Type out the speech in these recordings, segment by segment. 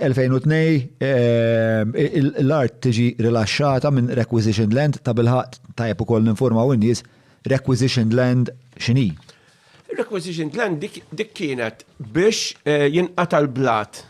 2002 L-art tiġi rilaxxata minn requisitioned land, tabilħaqq tajjeb ukoll ninfurmaw in-nies requisitioned land x'inhi. Requisitioned land dik kienet biex jinqata' l-blat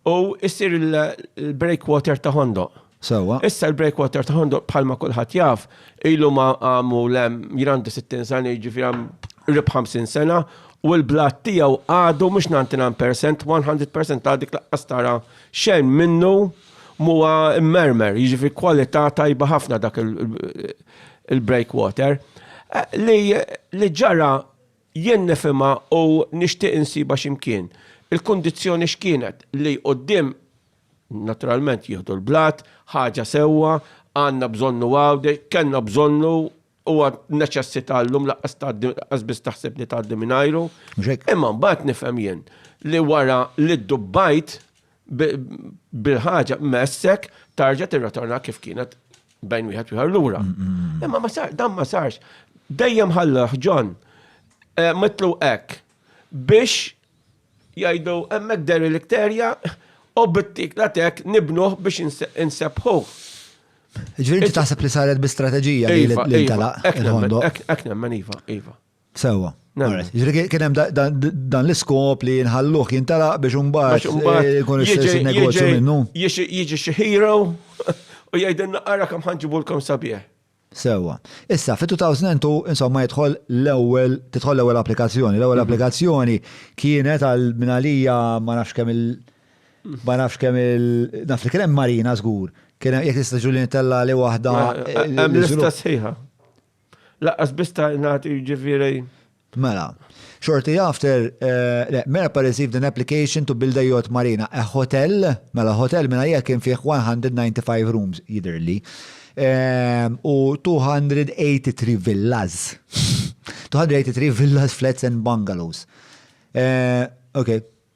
u jsir il-breakwater ta' Ħondoq. Sewwa. Issa l-breakwater ta' Ħondoq bħalma kulħadd jaf, ilu ma għamul hemm, jien għandi 60 sena jiġifieri hemm qrib 50 sena, u l-blat tiegħu għadu mhux 99 percent, 100 percent għad dik laqqas tara xejn minnu m'huwa mmermer, jiġifieri kwalità tajba ħafna dak il-breakwater. Li ġara jien nifhimha u nixtieq insibha x'imkien. Il-kundizzjoni x'kienet li quddiem Naturalment jieħdu l-blat, ħaġa sewwa, għandna bżonnu Għawdex, kellna bżonnu, huwa neċessità llum lanqas tgħaddi lanqas biss taħseb li tgħaddi mingħajru. Mhux hekk? Imma mbagħad nifhem jien li wara li ddubbajt bil-ħaġa messek tarġa' tirrotorna kif kienet bejn wieħed u ieħor lura. Imma ma sar, dan ma sarx. Dejjem ħallah John mitlu hekk biex Jgħidu hemmhekk derilikterja u bittik la tek nibnuh biex insebbħuh. Ġifieri inti taħseb li saret bi strateġija li iva, iva. ntalaq il-ħondo. Hekk nemmen iva, iva. Sewwa. Ġifieri kien hemm dan l-iskop li nħalluh jintalaq biex imbagħad eh, ikun is-sens negozju minnu. Jiġi xi hero u jgħidilna ara kemm ħanġibulkom sabiħ. Sewwa. Issa, fit-2002, insomma, jidħol l-ewwel, tidħol l-ewwel applikazzjoni. L-ewwel applikazzjoni kienet għal minn għalija ma nafx kemm il- ma nafx kemm il- naf li kien hemm marina żgur. Kien hemm jekk tista' ġuli nitella li waħda. Hemm lista sħiħa. Laqqas biss ta' nagħti ġifieri. Mela, shortly after, le, MERPA received an application to build a yacht marina, a hotel, mela hotel minn għalija kien fih 195 rooms, jidhirli, u 283 villas, 283 villas, flats and bungalows. Okej.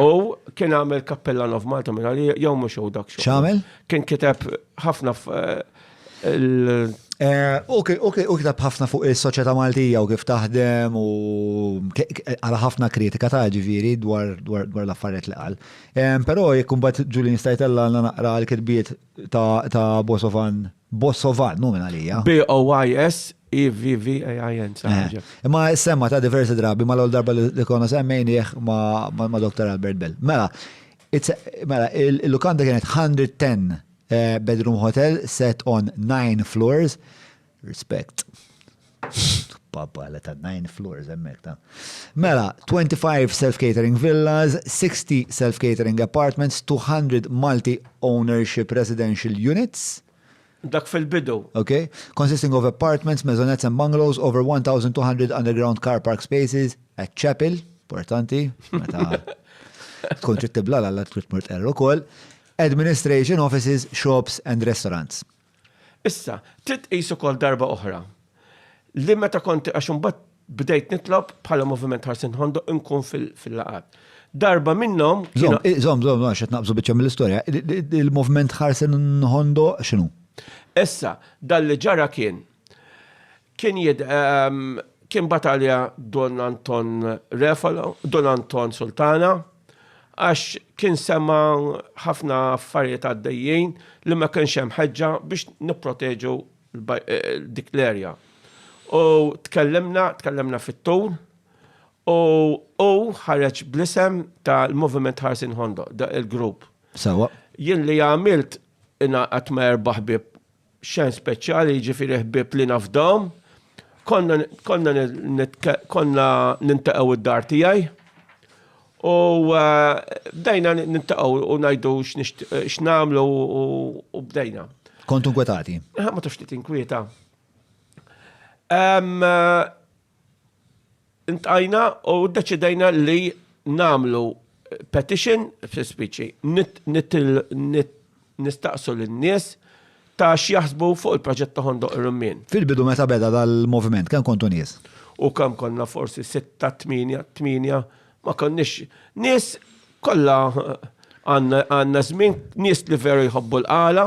U kien għamel Cappellan of Malta minna li jom mux u dak xo. ċamel? Kien kiteb ħafna eh, U kiteb ħafna fuq il-soċieta Maltija u kif taħdem u għala ħafna kritika ta' ġiviri dwar l-affariet li għal. Pero jekkum bat ġuli nistajtella naqra l-kitbiet ta' Bosovan, Bosovan, minn għalija. B-O-Y-S EVVAIN. Eh. Imma semma ta' diversi drabi ma l-għol darba li konna semmejnieħ ma' Dr. Albert Bell. Mela, mela, il-lukanda kienet 110 eh, bedroom hotel set on 9 floors. Respect. Papa, let ta' nine floors emmek ta' Mela, 25 self-catering villas, 60 self-catering apartments, 200 multi-ownership residential units. Dak fil-bidu. Ok. Consisting of apartments, maisonettes and bungalows, over 1,200 underground car park spaces, a chapel, importanti, meta tkun trid tibla l-alla trid mort erru kol, administration offices, shops and restaurants. Issa, trid tqis ukoll darba oħra li meta kont għax imbagħad bdejt nitlob bħala moviment ħarsin ħondoq inkun fil-laqat. Darba minnhom. Zom, zom, zom, għax qed naqbżu biċċa mill-istorja. Il-moviment ħarsin ħondoq x'inhu? Issa, dan li ġara kien Kien jid, kien batalja Don Anton Refalo, Don Anton Sultana, għax kien sema ħafna affarijiet għaddejjin li ma kienx hemm ħeġġa biex nipproteġu dik l-erja. U tkellimna, tkellimna fit-tul, u hu ħareġ bl-isem tal-Moviment Ħarsien Ħondoq, il-grupp. Sewwa. Jien li għamilt ingħaqadt ma' erba' ħbieb xen speċjali jiġifieri ħbieb li nafdaw. Konna konna konna nintaqgħu id-dar tiegħi. U eh, bdejna nintaqgħu u ngħidu x'nagħmlu u bdejna. Kontu nkwetati? Ma tafx li tinkwieta. Eh, Ntqajna u ddeċidejna li nagħmlu petition fis-spiċi nistaqsu lin-nies ta' x'jaħsbu fuq il-proġett ta' Ħondoq ir-Rummien. Fil-bidu meta beda dal-moviment kemm kontu nies? U kemm konna forsi sitta, tmienja, tmienja, ma konniex nies kollha għandna żmien nies li veru jħobbu l-qala,